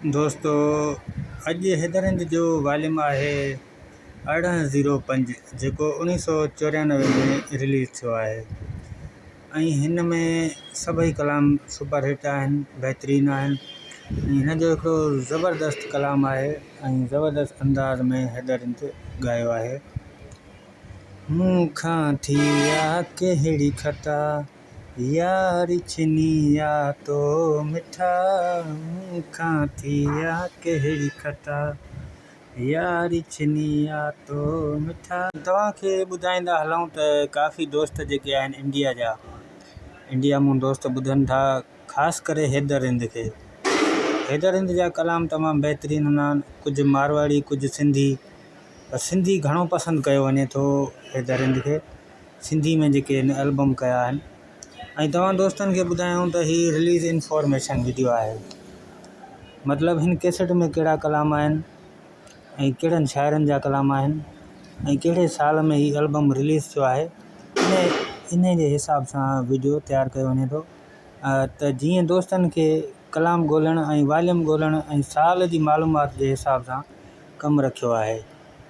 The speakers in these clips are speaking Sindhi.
دوستو اڄ حيدر هند جو واليوم آهي ارڙهن زيرو پنج جيڪو اڻيهه سو چوريانوي ۾ رليز ٿيو آهي ۽ هن ۾ سڀئي ڪلام سپر هٽ آهن بهترين آهن ۽ هن جو هڪڙو زبردست ڪلام آهي ۽ زبردست انداز ۾ حيدر هند ڳايو آهي مون کان ٿي آ ڪهڙي خطا يار چني يا تو مٺا، مون کان ٿي يا ڪهڙي خطا، يار چني يا تو مٺا. توهان کي ٻڌائيندا هلون ته ڪافي دوست جيڪي آهن انڊيا جا انڊيا مون دوست ٻڌن ٿا خاص ڪري حيدر هند کي حيدر هند جا ڪلام تمام بهترين هوندا آهن ڪجهه مارواڙي ڪجهه سنڌي پر سنڌي گهڻو پسند ڪيو وڃي ٿو حيدر هند کي سنڌي ۾ جيڪي هن البم ڪيا آهن ۽ توهان دوستن کي ٻڌايائون ته هي رليز انفارميشن وڊيو آهي مطلب هن ڪيسٽ ۾ ڪهڙا ڪلام آهن ۽ ڪهڙن شاعرن جا ڪلام آهن ۽ ڪهڙي سال ۾ هي البم رليز ٿيو آهي ان ان جي حساب سان وڊيو تيار ڪيو وڃي ٿو ته جيئن دوستن کي ڪلام ڳولهڻ ۽ واليوم ڳولهڻ ۽ سال جي معلومات جي حساب سان ڪم رکيو آهي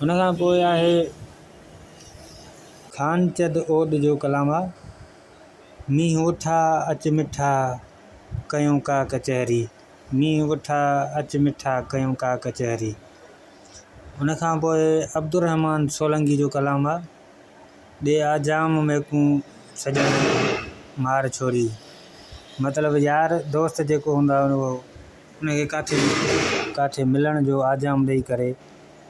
هن کان پوء آهي خانچد اوڏ جو ڪلام آ، مينهن وٺا اچ مٺا ڪيون ڪا ڪچهري، مينهن وٺا اچ مٺا ڪيون ڪا ڪچهري. ان کان پوء عبدالرحمان سولنگي جو ڪلام آ، ڏي آ جام ميڪون سڄڻ مار ڇوري. مطلب يار دوست جيڪو هوندو آ اهو ان کي ڪاٿي ڪاٿي ملڻ جو آجام ڏئي ڪري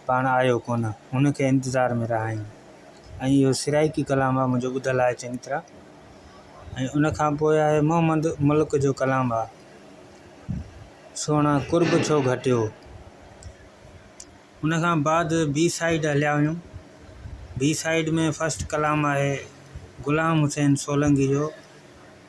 پاڻ آيو ڪونه ان کي انتظار ۾ رهايون ۽ اهو سرائيڪي ڪلام آهي منهنجو ٻڌل آهي چڱي طرح ۽ ان کان پوء آهي محمد ملڪ جو ڪلام آهي سهڻا قرب ڇو گهٽيو ان کان بعد بي سائيڊ هليا ويون بي سائيڊ ۾ فسٽ ڪلام آهي غلام حسين سولنگي جو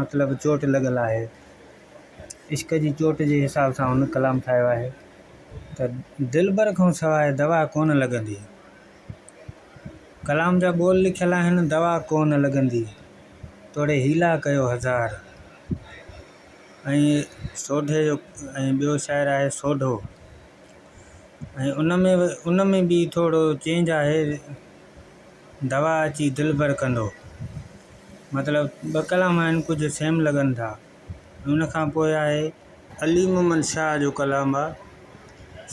مطلب چوٽ لڳل آهي. عشق جي چوٽ جي حساب سان هن ڪلام ٺاهيو آهي ته دلبر کان سواء دوا ڪونه لڳندي. ڪلام جا ٻول لکيل آهن دوا ڪونه لڳندي توڙي حيلا ڪيو هزار ۽ سوڍي جو ۽ ٻيو شاعر آهي سوڍو ۽ ان ۾ ان ۾ به ٿورو چينج آهي دوا اچي دلبر ڪندو. مطلب ٻه ڪلام آهن ڪجهه سيم لڳن ٿا. ان کان پوء آهي علي محمد شاهه جو ڪلام آهي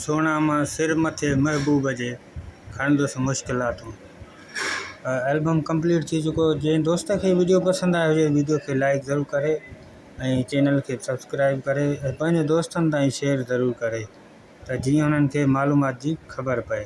سهڻا مان سر مٿي محبوب جي کڻندس مشڪلاتون. البم ڪمپليٽ ٿي چڪو جنهن دوست کي وڊيو پسند آئي هجي وڊيو کي لائڪ ضرور ڪري ۽ چينل کي سبسڪرائب ڪري ۽ پنهنجي دوستن تائين شيئر ضرور ڪري ته جيئن انهن کي معلومات جي خبر پئي.